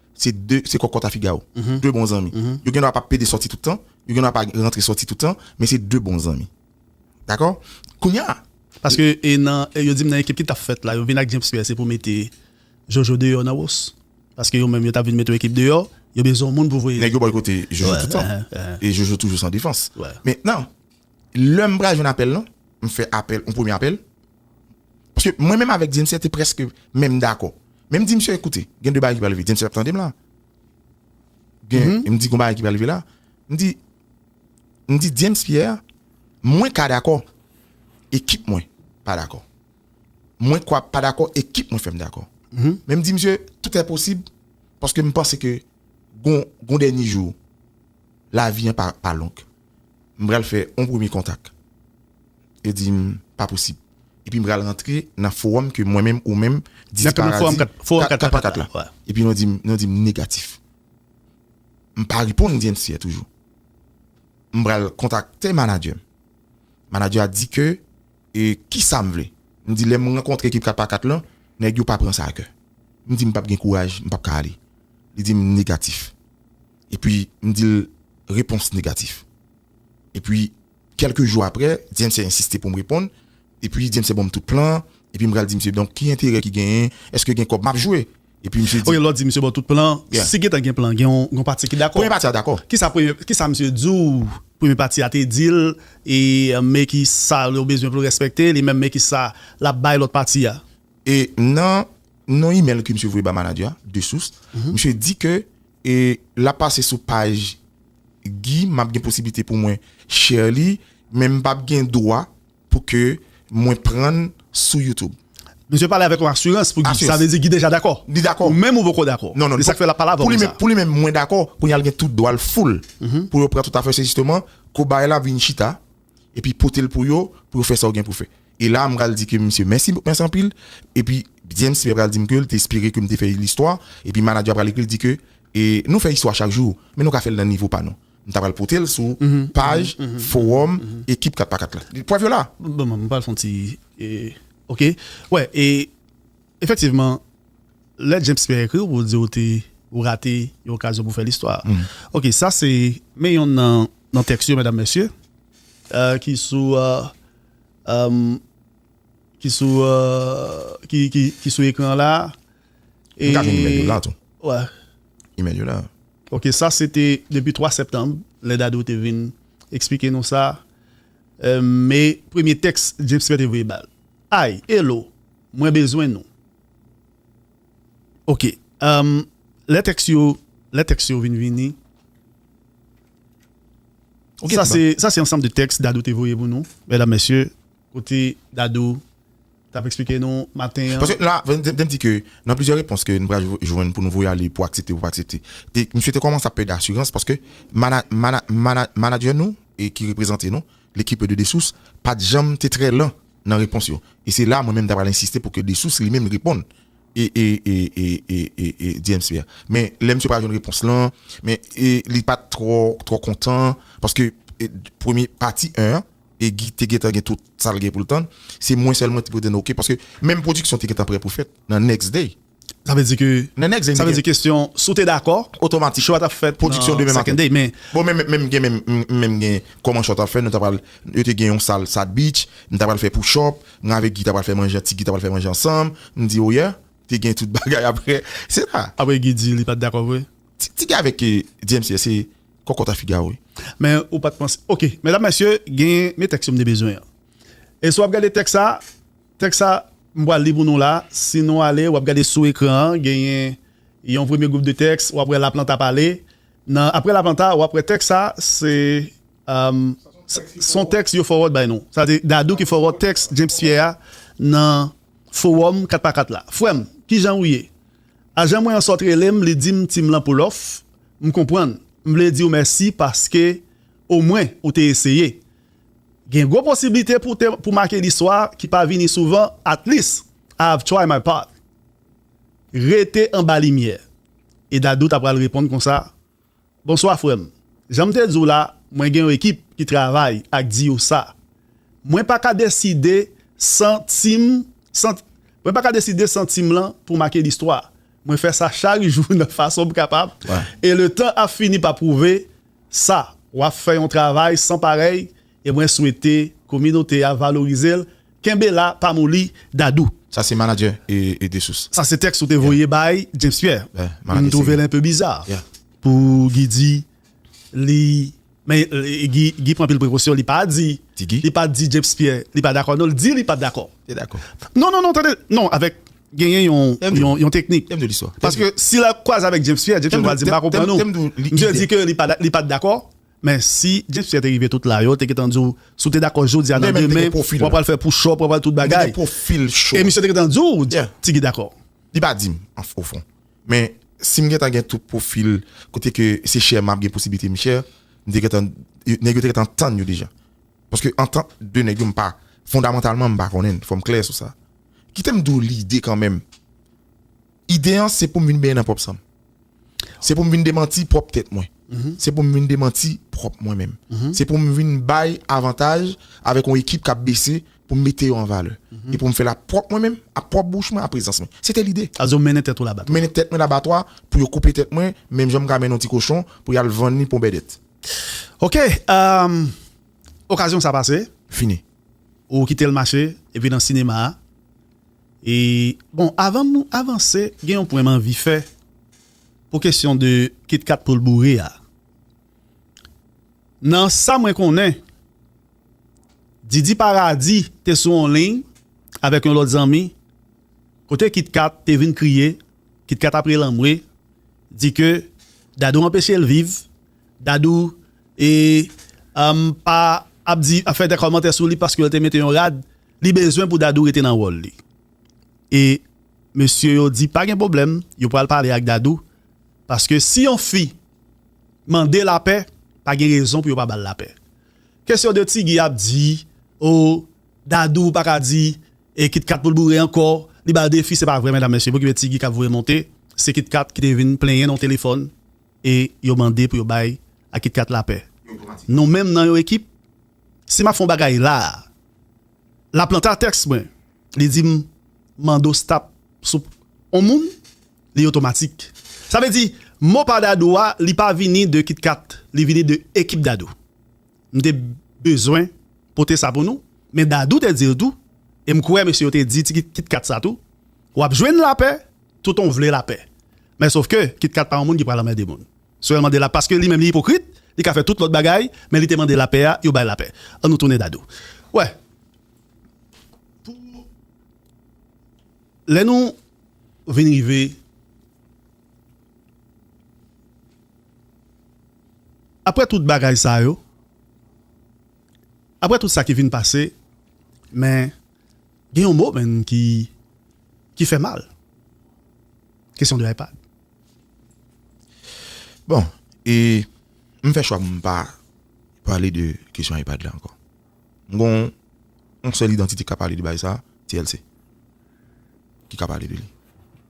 se 2, se kòkòt a figawo, 2 bon zanmi. Yo gendwa pa pede sòti tout tan, yo gendwa pa rantre sòti tout tan, men se 2 bon zanmi. Dakò? Kounye a. Paske e nan, yo di m nan ekip ki t ap fèt la, yo vin ak James Pierre se pou mete Jojo deyò nan Ros. Paske yo menm yo t ap vin mete yon ekip deyò, yo bezwen yon moun pou voye. Nèg yo bòykote Jojo tout tan. E Jojo toujou san defans. Mentnan, lè m pral jwenn apèl lan, m fè apèl, yon premye apèl. Paske mwen menm avèk Diemsè te prèske menm dakò. Men m di msye koute, gen de bagay ki pral rive. Diemsè ap tande m la. Gen, m di gon bagay ki pral rive la. M di, m di Diems Pierre, mwen ka dakò, ekip mwen pa dakò. Mwen kwa pa dakò, ekip mwen fè m dakò. Men m di msye, tout è posib, paske m panse ke gon, gon dènye jou, lavi an pa, pa long. m pral fè yon premye kontak. Yo di m pa posib. Epi m pral rantre nan fowòm ke mwen menm, ou menm, Disparadi, 4 pa 4 la. Epi nou di m negatif. M pa reponn Diensier toujou. M pral kontakte manadjè m. Manadjè a di ke kisa m vle. M di lè m rankontre ekip 4 pa 4 lan, nèg yo pa pran sa a kè. M di m pap gen kouraj, m pap ka ale. Li di m negatif. Epi m di l repons negatif. Epi kèlke jou aprè, Dyemse ensiste pou m reponn. Epi Dyemse ban m tout plan an. Epi m pral di misye, donk ki enterè ki genyen? Èske gen kòb m ap jwe? Epi misye di. Ok, lè w di misye ban w tout plan an, si gentan gen plan an, gen yon pati ki dakò? Premye pati a dakò. Ki sa misye di w premye pati a te di l? E men ki sa yo bezwen pou l respekte l? E menm men ki sa l ap bay lòt pati a? E nan yon imèl ke misye voye bay manager a, de sous, misye di ke. E lap pase sou paj Guy map gen posiblite pou mwen share li men m pap gen dwa pou ke mwen pran l sou youtube. Misye pale avèk yon asirans pou Guy, sa vle di Guy deja dakò? Li dakò. Ou menm ou poko dakò? Non non. Se sak fè lap pale avèw konsa. Pou li menm mwen dakò, kounya li gen tout dwa l full pou yo pran tout afè se jisteman kobay la vin chita. epi pote l pou yo pou yo fè sa w gen pou fè e la m pral di ke misye mèsi mèsi anpil epi James Pierre pral di m ke l te espere ke m te fè listwa epi manager pral ekri l di ke e nou fè istwa chak jou men nou ka fè l nan nivo pa nou m ta pral pote l sou paj fowòm ekip 4 pa 4 la prèv yo la. Bon m pral fè yon ti ok wè e efektivman. Lè James Pierre ekri w pou l di w te ou rate yon okazyon pou w fè listwa. Ok, sa se men yonn nan tèks yo medam mesye ki sou ki sou ki sou ekran an la a. M ka jwenn imèl yo la tou. Wè. Imèl yo la. Ok, sa se te depi 3 septanm lè Dadou te vin eksplike nou sa. Me premye tèks James Pierre te voye ba l. Hi, hello, mwen bezwen nou. Ok, lè tèks yo, lè tèks yo vin vini. Ok, sa se, sa se ansanm de tèks Dadou te voye pou nou, mèdam mèsye, kote Dadou t ap eksplike nou maten an. Paske la, fò m di ke nan plizyè repons ke nou pral jwenn pou nou voye ale pou aksepte pou pa aksepte, misye te kòmanse ap pèdi asirans paske manadjè nou e ki reprezante nou, L'equipe de Dessources, pa t janm te trè lan nan repons yo. E se la mwen menm ta pral ensiste pou ke Dessources li menm reponn e e e e e e e DMC a. Men lè misye pa jwenn repons lan, men e li pat twò twò kontan paske e premye pati 1 an e Guy te gentan gen tout sa l gen pou l tann, se mwen sèlman ki pou te nan ok paske menm pwodiksyon te gentan prè pou fèt nan next day. Sa vle di ke sa vle di kesyon si w te dakò chò a t ap fèt nan second day men bon men m gen men m men m gen kòman chò t ap fèt nou ta pral yo te gen yon sal sad beach m ta pral fè pou chò mwen avèk Guy ta pral fè manje ti Guy ta pral fè manje ansanm m di oyè te gen tout bagay aprè se la aprè Guy di li pa t dakò vre ti Guy avèk DMCS se kòkòt a figa wi men ou pa t panse ok medam mesye gen men tèks yo m te bezwen an e si w ap gade tèks sa. Tèks sa m pral li pou nou la, si nou ale, w ap gade sou ekran an, genyen yon premye gwoup de tèks, w ap wè Laplanta pale. Nan Apre Laplanta, w ap wè tèks sa, se s on tèks yo fowòd bay nou. Sa vle di Dadou ki fowòd tèks James Pierre a nan fowòm 4 pa 4 la. Frè m, ki jan ou ye? Ajan mwen an sot rele m, li di m Tim lan pou lòf, m konprann. M vle di w mèsi paske omwen ou te eseye. Gen gwo posiblite pou te pou make listwa ki pa vini souvan At least I have tried my part Rete anba limyè E Dadou ta pral reponn konsa Bonswa frè m Jan m te di w la mwen gen yon ekip ki travay ak di yo sa Mwen pa ka deside san ti m san Mwen pa ka deside san ti m lan pou make listwa Mwen fè sa chak jou nan fason m kapab E le tan ap fini pa pwouve Sa, wap fè yon travay san parèy e mwen swete kominote a valorize l, kenbe la pa moli Dadou. Sa se manager e Dessources. Sa se tèks ou te voye bay James Pierre. M twouve l enpe biza pou Guy di li men Guy pran anpil prekosyon li pa di li pa di James Pierre li pa dakò non l di li pa dakò non non non tande non avèk genyen yon teknik. Paske si l kwaze avèk James Pierre, James Pierre pral di m pa konprann ou. Misye di ke li pa t dakò. Men si James Pierre te rive tout la, yo te gentan di w, si w te dakò jodi a nan demen, w apral fè pouchòp, w apral tout bagay. E misye te gentan di w, Ti Guy dakò. Li pa di m o fon. Men si m gentan gen tout pwofil kote ke se chè m ap gen posiblite m chè, m te gentan, nèg yo te gentan tann yo deja. Paske antant 2 nèg yo m pa, fondamantalman m pa konnen, fò m klè sou sa. Kite m di w lide kanmenm. Ide an se pou m vin benyen nan pwòp san m. Se pou m vin demanti pwòp tèt mwen. Se pou m vin demanti pwòp mwen menm. Se pou m vin bay avantaj avèk yon ekip k ap bese pou m mete yo an valè. E pou m fè l ap pwòp mwen menm, ap pwòp bouch mwen, ap prezans mwen. Se te lide. Sa vle di w mennen tèt ou labatwa. Mennen tèt mwen labatwa pou yo koupe tèt mwen menm jan m ka mennen yon ti kochon pou y al vann li pou yon bèdèt. Ok. Okazyon sa pase. Fini. Ou kitel mache epi nan sinema a e bon avanm avanse gen yon pwen m anvi fè pou kesyon de kitkat poul boure a nan sa mwen konnen Didi paradi te sou yon liy avèk yon lòt zanmi kote kitkat te vin kriye kitkat ap rele anmwe di ke Dadou anpechel viv Dadou e umm pa ap di ap fè de kòmantè sou li paske yo te mete yon rad li bezwen pou Dadou rete nan wòl li e mesye yo di pa gen pwoblèm yo pral pale ak Dadou paske si yon fi mande lapè pa gen rezon pou yo pa bal lapè kesyon de ti Guy ap di oo Dadou pa ka di e Kit Kat pou l boure ankò li bal defi se pa vre medam mesye poukisa ti Guy kap voye monte se Kit Kat ki te vin plenyen nan yon telefòn e yo mande pou yo bay a Kit Kat lapè. Nou menm nan yon ekip, si m ap fè yon bagay la a, Laplanta tèks mwen, li di m mando stop sou yon moun, li otomatik. Sa vle di mo pa Dadou a, li pa vini de Kit Kat, li vini de ekip Dadou. M te bezwen pote sa pou nou, men Dadou te di l tou, e m kwè mesye yo te di ti Kit Kat sa tou, W ap jwenn lapè toutan w vle lapè. Men sof ke Kit Kat pa yon moun ki pral anmède moun. Si w wè l mande la paske li menm li ipokrit, li ka fè tout lòt bagay, men li te mande lapè a, yo bay lapè. An nou tounen Dadou. Wè, pou lè nou vin rive. Apre tout bagay sa yo, apre tout sa ki vin pase, men, gen yon mo menm ki, ki fè mal, kesyon de iPad. Bon, e, m fè chwa pou m pa pale de kesyon iPad la ankò. M gon yon sèl idantite ka pale de bagay sa, TLC. Ki ka pale de li.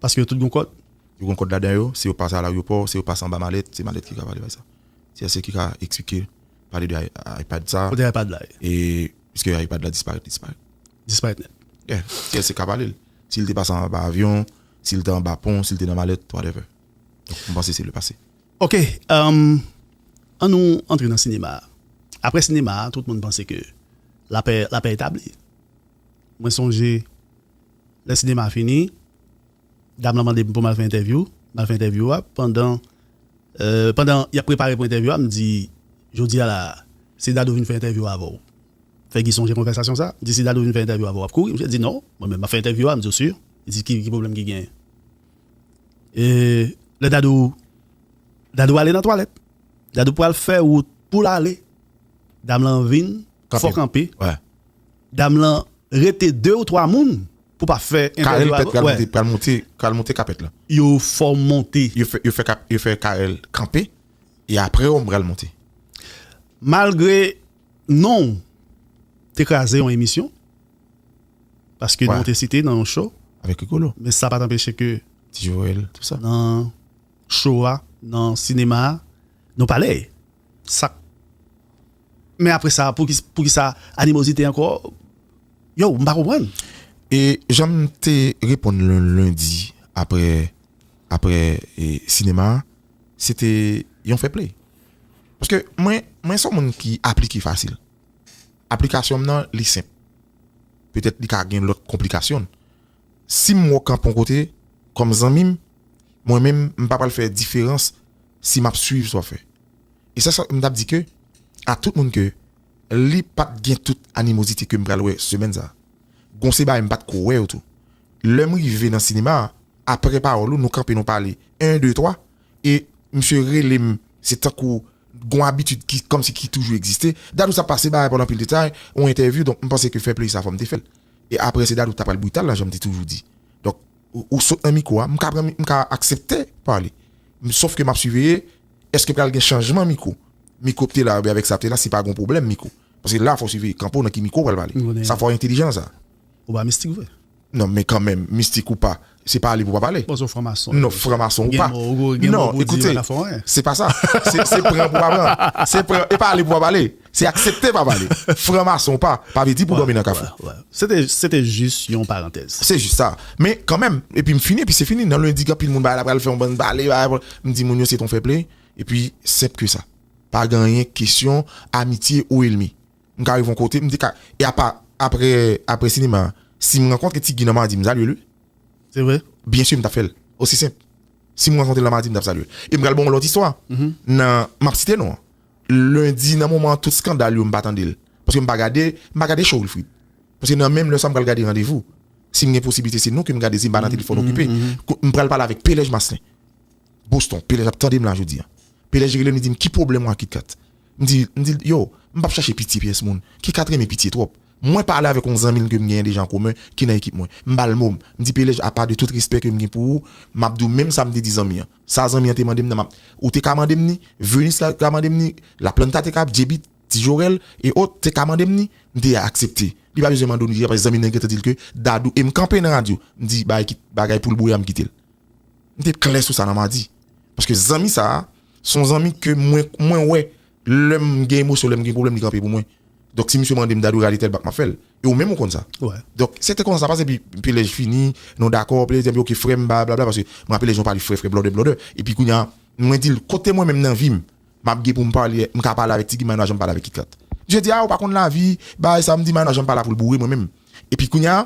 Paske yo tout gon kòd? Yo gon kòd ladan yo, si yo pase a laryopò, si yo pase anba malèt, se malèt ki ka pale bagay sa. TLC ki ka eksplike, pale de iPad sa. Kote iPad la ye? E piske iPad la disparèt, li disparèt. Disparèt nèt. Yeah. TLC ka pale l. Si l te pase anba avyon, si l te anba pon, si l te nan malèt, whatever. Donk m panse se le pase. Ok an nou antre nan sinema a aprè sinema a tout moun panse ke lapè lapè etabli mwen sonje lè sinema a fini dam lan mandem poum al fè entèvyou m al fè entèvyou a pandan pandan yap prepare pou entèvyou a m di jodia la si Dadou vin fè entèvyou a avèw fè Guy sonje konvèsasyon sa m di si Dadou vin fè entèvyou a avèw wap kouri misye di non mwen menm map fè entèvyou a m di ou sur li di ki pwoblèm ki genyen. Lè dadou Dadou ale nan twalèt Dadou pral fè wout pou l ale Dam lan vin fò kanpe Dam lan rete 2 ou 3 moun pou pa fè entèvyou avè Karèl pèt pral moute pral moute kapèt la Yo fò monte Yo fè yo fè kap yo fè Karèl kanpe e apre yo pral moute Malgre non w te kraze yon emisyon Paske nou te site nan yon show. Avèk Rigolo. Men sa pa t anpeche ke. Ti Joel, tout sa. Nan show a, nan sinema a, nou pale. Sa k. Men apre sa, pou kisa animozite ankò? Yow, m pa konprann. E jan m te reponn Lundi apre, apre sinema a, se te yon fair play. Paske mwen, mwen s on moun ki aplike fasil. Aplikasyon m nan li senp. Petèt li ka gen lòt konplikasyon. Si m wè w kanpe yon kote kòm zanmi m, mwen menm m pa pral fè diferans si m ap swiv sa w fè. E se sa m t ap di ke a tout moun ke li pa t gen tout animozite ke m pral wè semèn sa a. Gon se bagay m pa t ko wè yo tou. Lè m rive nan sinema a, aprè pawòl ou nou kanpe nou pale 1, 2, 3. e misye relem se tankou gon abitid ki kòmsi ki toujou egziste Dadou sa pase bagay pa w anpil detay yon entèvyou donk m panse ke fè play sa fòm te fèl e aprè se Dadou ta pral brital la janm te toujou di donk ou sot nan mikwo a m ka pran m ka aksepte pale m sof ke map siveye eske pral gen chanjman mikwo mikwo p te la oubyen avèk sa p te la se pa gon pwoblèm mikwo paske la fò w siveye kanpe w nan ki mikwo w pral pale sa fò entelijan nan sa. Ou pa mistik vre. Non men kanmenm mistik ou pa se pa ale pou pa pale Bon se yon fran mason non fran mason ou pa non ekoute se pa sa se pran pou pa pran se pran e pa ale pou pa pale se aksepte pa pale fran mason ou pa pa vle di pou dòmi nan kafou se te jis yon parantèz se jis sa men kanmenm epi m fini epi se fini nan lendi gen anpil moun bagay la pral fè yon bann pale m di moun yo se ton fè plen epi senp ke sa pa gen anyen kesyon amitye ou elmi. M ka rive yon kote, m te ka e apa aprè aprè sinema a si m rankontre Ti Guy nan Madi m salye l wi. Se vre? Byen sur m tap fè l. Osi senp. Si m rankontre l nan Madi m tap salye l. E m pral ba w yon lòt istwa nan m ap site non an. Lendi nan moman an tout skandal yo m pa tande l. Paske m pa gade m pa gade show Wilfrid. Paske nan menm lè sa m pral gade Randevou. Si m gen posiblite se nou ke m gade si m pa nan telefòn okipe. M pral pale avèk P. Lèj Maslin. Boston, Pèlej ap tande m la jodi a. Pèlej rele m li di m ki pwoblèm ou ak KitKat. M di m di l yo, m pap chache pitye pyès moun. KitKat renmen pitye twòp. Mwen pale avèk yon zanmi m ke m genyen deja an komen ki nan ekip mwen. M ba l mo m. M di Pèlej apa de tout respè ke m gen pou ou, m ap di w menm sa m te di zanmi an. Sa zanmi an te mande m nan m ap Ou te ka mande m ni, Venus te ka mande m ni, Laplanta te ka, JB, Ti Jorèl, e ot, te ka mande m ni, m te aksepte. Li pa bezwen mande w ni deja paske zanmi nan gentan di l ke Dadou e m kanpe nan radyo, m di bagay ki bagay pou l bouya m kite l. M te klè sou sa nan madi. Paske zanmi sa a, se yon zanmi ke mwen, mwen wè lè m gen emosyon, lè m gen pwoblèm li kanpe pou mwen. Donk si misye mande m m ta dwe rale tèl bak m ap fè l. E ou menm ou konn sa. Donk se te konsa sa pase epi pi lè j fini, nou dakò, pi lè li di m ok frèm ba blabla paske m raple lè jan ou pale frè frè blòdè blòdè. Epi kounye a mwen di l kote mwen menm nan vi m m ap gen pou m pale, m ka pale avèk Tigi Mayna jan m pale avèk Kit Kat. Misye di a ou pa konn lavi, bay sa m di Mayna jan m pa la pou l boure mwen menm. Epi kounye a.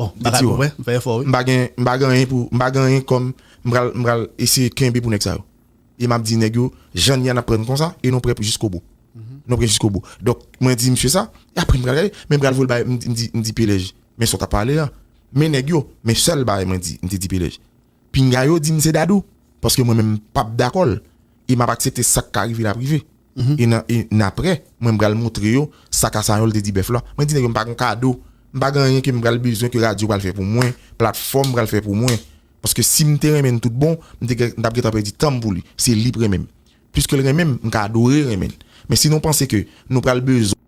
Bon bagay pou mwen, m fè efò wi. M pa gen, m pa gen anyen pou, m pa gen anyen kòm m pral, m pral eseye kenbe pou nèg sa yo. E m ap di nèg yo, jan n ye a n ap pran nou konsa e nou pre pou jiskobou. Nou pre jiskobou. Donk, mwen di msye sa, e apre m pral gade, men m pral voye l bay, m di, m di Pelej, men sa w t ap pale a, men nèg yo, men sèl bagay mwen di, m te di Pelej, pinga yo di m se Dadou, paske mwen menm m p ap dakò l e m ap aksepte sa k ka rive l ap rive. e nan e n aprè mwen pral moutre yo sa Kasayòl te di bèf la mwen di nèg yo m pa gon kado m pa gen anyen ke m pral bezwen ke radyo pral fè pou mwen platfòm pral fè pou mwen paske si m te renmen n tout bon m te gen m t ap gen tan pèdi tan m pou li se li k renmen m piske l renmen m m ka adore renmen l men si nou panse ke nou pral bezwen.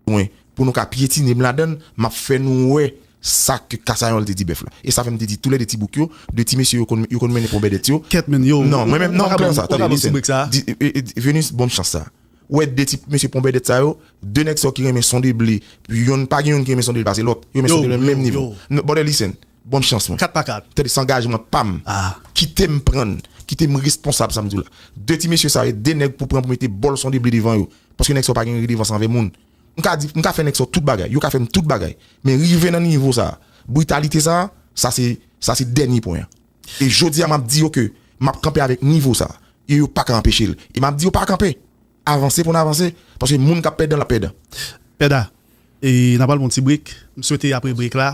mwen pou nou ka pyetine m ladan l, m ap fè nou wè sa ke Kasayòl te di bèf la. E sa fè m te di tou lè de ti bouk yo, de ti mesye yo konn yo konn mennen ponbèdèt yo. Kèt menn, yow, Non, mwen menm, non, kle sa, tande, listen, di, Venus, bon m chans sa. Ou wè de ti mesye ponbèdèt sa yo, de nèg sa yo ki renmen sonde ble, yonn, pa gen yonn ki renmen sonde l pase lòt. Yo renmen sonde l nan menm nivo. Yow, yow. Bòdè, listen, Bonn chans mwen. Kat pa kat. Tande sangajman pam. Kite m pran n. Kite m responsab sa m di w la. De ti mesye sa yo, de nèg pou pran pou mete bòl son de ble devan yo. Paske nèg sa yo pa gen redevans anvè moun. M ka di, m ka fè nèg sa yo tout bagay. Yo ka fè m tout bagay. Men rive nan nivo sa a, britalite sa a, sa se, sa se dènye pwen an. E jodi a m ap di yo ke m ap kanpe avèk nivo sa a. E yo pa ka anpeche l. E m ap di yo pa kanpe. Avanse pou n avanse. Paske moun k ap pèdan l ap pèdan. Pèdan. E n a pral pran yon ti brek. M swete apre brek la,